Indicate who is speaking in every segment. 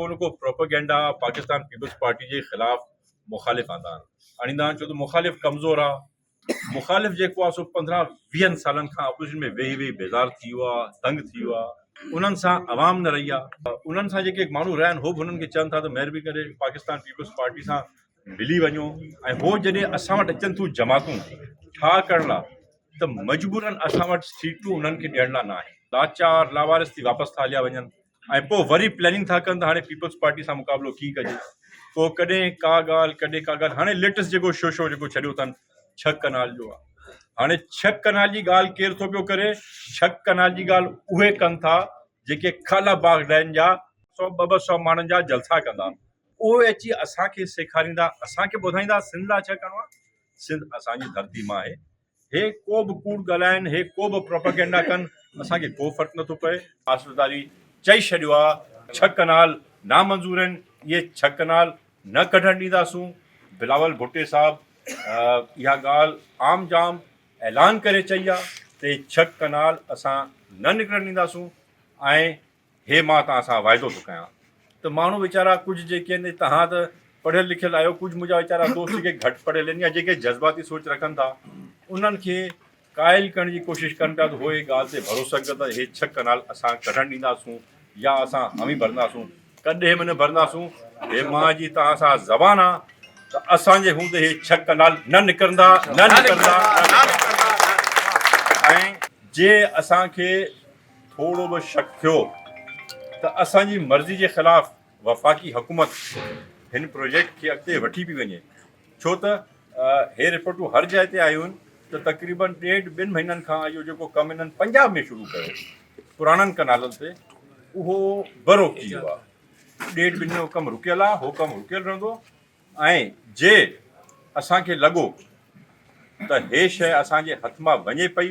Speaker 1: ڪو نه ڪو پروپيگنڊا پاڪستان پيپلز پارٽي جي خلاف مخالف آندا آهن آڻيندا آهن ڇو ته مخالف ڪمزور آ مخالف جيڪو آ سو پندرهن ويهن سالن کان اپوزيشن ۾ ويهي ويهي بيزار ٿي ويو آ تنگ ٿي ويو آ انهن سان عوام نه رهي آ انهن سان جيڪي ماڻهو رهيا آهن هو به انهن کي چون ٿا ته مهربي ڪري پاڪستان پيپلز پارٽي سان ملي وڃو ۽ هو جڏهن اسان وٽ اچن ٿيون جماعتون ٺاهه ڪرڻ لاء ته مجبورن اسان وٽ سيٽون انهن کي ڏيڻ لاء نه آهن لاچار لاوارث ٿي واپس ٿا هليا وڃن ۽ پوء وري پلاننگ ٿا ڪن ته هاڻي پيپلز پارٽي سان مقابلو ڪيئن ڪجي. پوء ڪڏهن ڪا ڳالهه ڪڏهن ڪا ڳالهه هاڻي ليٽيسٽ جيڪو شو شو جيڪو ڇڏيو اٿن ڇهه ڪئنال جو آهي هاڻي ڇهه ڪئنال جي ڳالهه ڪير ٿو پيو ڪري ڇهه ڪئنال جي ڳالهه اهي ڪن ٿا جيڪي خالا باغ ڊيم جا سو ٻه ٻه سو ماڻهن جا جلسا ڪندا اهي اچي اسان کي سيکاريندا اسان کي ٻڌائيندا سنڌ لاء ڇا ڪرڻو آهي سنڌ اسان جي ڌرتي ماء آهي. هي ڪو به ڪوڙ ڳالهائن، هي ڪو به پروپيگنڊا ڪن، اسان کي ڪو فرق نٿو پئي. آصف علي چئي ڇڏيو آ ڇهه ڪئنال نامنظور آهن اهي ڇهه ڪئنال نه ڪڍڻ ڏينداسون، بلاول ڀٽي صاحب اها ڳالهه عام جام اعلان ڪري چئي آ ته اهي ڇهه ڪئنال اسان نه نڪرڻ ڏينداسون ۽ هي مان توهان سان واعدو ٿو ڪيان ته ماڻهو ويچارا ڪجهه جيڪي آهن توهان ته پڙهيل لکيل آهيو ڪجهه منهنجا ويچارا دوست جيڪي گهٽ پڙهيل آهن يا جيڪي جذباتي سوچ رکن ٿا انهن کي قائل ڪرڻ جي ڪوشش ڪن پيا ته هو هي ڳالهه تي ڀروسه ڪن ته هي ڇهه ڪئنال اسان ڪڍڻ ڏينداسون يا اسان هامي ڀرنداسون ڪڏهن به نه ڀرنداسون هي مان جي توهان سان زبان آ ته اسان جي هوندي هي ڇهه ڪئنال نه نڪرندا نه نڪرندا ۽ جي اسان کي ٿورو به شڪ ٿيو ته اسان جي مرضي جي خلاف وفاقي حڪومت هن پروجيڪٽ کي اڳتي وٺي پئي وڃي ڇو ته هي رپورٽون هر جاء تي آيون ته تقريبن ڏيڍ ٻن مهينن کان اهو جيڪو ڪم هنن پنجاب ۾ شروع ڪيو پراڻن ڪنالن تي اهو برو ٿي ويو آهي ڏيڍ ٻن جو ڪم رڪيل آهي هو ڪم رڪيل رهندو ۽ جي اسانکي لڳو ته هي شيء اسانجي هٿ مان وڃي پئي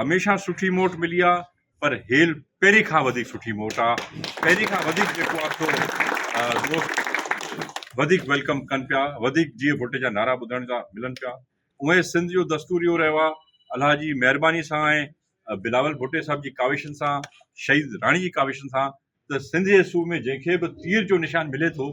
Speaker 1: هميشه سٺي موٽ ملي آ پر هيل پهرين کان وڌيڪ سٺي موٽ آ پهرين کان وڌيڪ جيڪو آ سو دوست وڌيڪ ويلڪم ڪن پيا وڌيڪ جيئي ڀٽ جا نعرا ٻڌڻ جا ملن پيا اوهين سنڌ جو دستور اهو رهيو آ الله جي مهرباني سان ۽ بلاول ڀٽي صاحب جي ڪاوشن سان شهيد راڻي جي ڪاوشن سان ته سنڌ جي صوبي ۾ جنهن کي به تير جو نشان ملي ٿو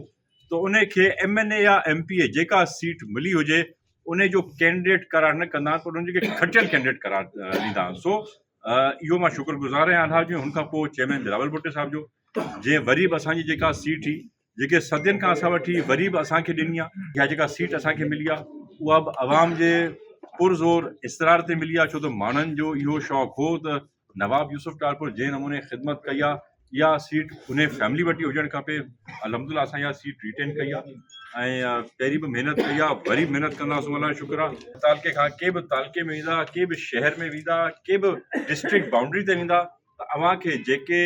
Speaker 1: ته ان کي ايم اين اي يا ايم پي اي جيڪا سيٽ ملي هجي ان جو ڪينڊيڊيٽ قرار نه ڪندا پر ان کي کٽيل ڪينڊيڊيٽ قرار ڏيندا سو اهو مان شڪر گذار آهيان الحاظ جو هن کان پوء چيئرمين بلاول ڀٽي صاحب جو جنهن وري به اسانجي جيڪا سيٽ هئي جيڪي صدين کان اسان وٺي وري به اسان کي ڏني آ يا جيڪا سيٽ اسان کي ملي آ اها به عوام جي پر زور اصرار تي ملي آ ڇو ته ماڻهن جو اهو شوق هو ته نواب يوسف ٽالپر جنهن نموني خدمت ڪئي آ اها سيٽ انهي فيملي وٽ ئي هجڻ کپي الحمدلله اسان اها سيٽ ريٽين ڪئي آ ۽ پهرين به محنت ڪئي آ وري به محنت ڪنداسون الله جو شڪر آ تعلقي کان ڪي به تعلقي ۾ ويندا ڪي به شهر ۾ ويندا ڪي به ڊسٽرڪٽ بائونڊري تي ويندا ته اوهان کي جيڪي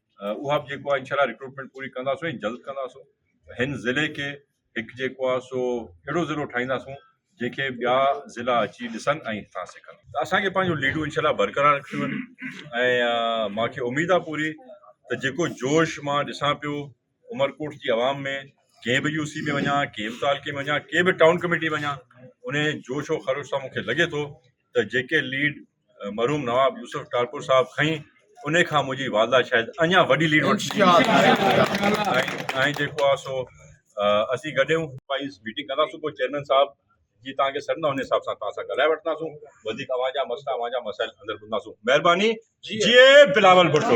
Speaker 1: اها به جيڪو آهي انشاء الله رڪروٽمينٽ پوري ڪنداسون ۽ جلد ڪنداسون هن ضلعي کي هڪ جيڪو آهي سو اهڙو ضلعو ٺاهينداسون جنهن کي ٻيا ضلعا اچي ڏسن ۽ هتان سکن ته اسان کي پنهنجو ليڊون انشاء الله برقرار رکڻيون آهن ۽ مان کي اميد آهي پوري ته جيڪو جوش مان ڏسان پيو عمرڪوٽ جي عوام ۾ ڪنهن به يو سي ۾ وڃان ڪنهن به تعلقي ۾ وڃان ڪنهن به ٽائون ڪميٽي ۾ وڃان ان جوش و خروش سان مون کي لڳي ٿو ته جيڪي ليڊ مرحوم نواب يوسف ٽالپر صاحب کئي انهي کان منهنجي والده شايد اڃا وڏي ليڊ وٺي ۽ جيڪو آ سو اسين گڏيون وائيز ميٽنگ ڪنداسون پوء چيئرمين صاحب جي توهان کي سڏندا انهي حساب سان توهان سان ڳالهائي وٺنداسون وڌيڪ اوهان جا مسئلا اوهان جا مسائل اندر ٻڌنداسون مهرباني جي بلاول ڀٽو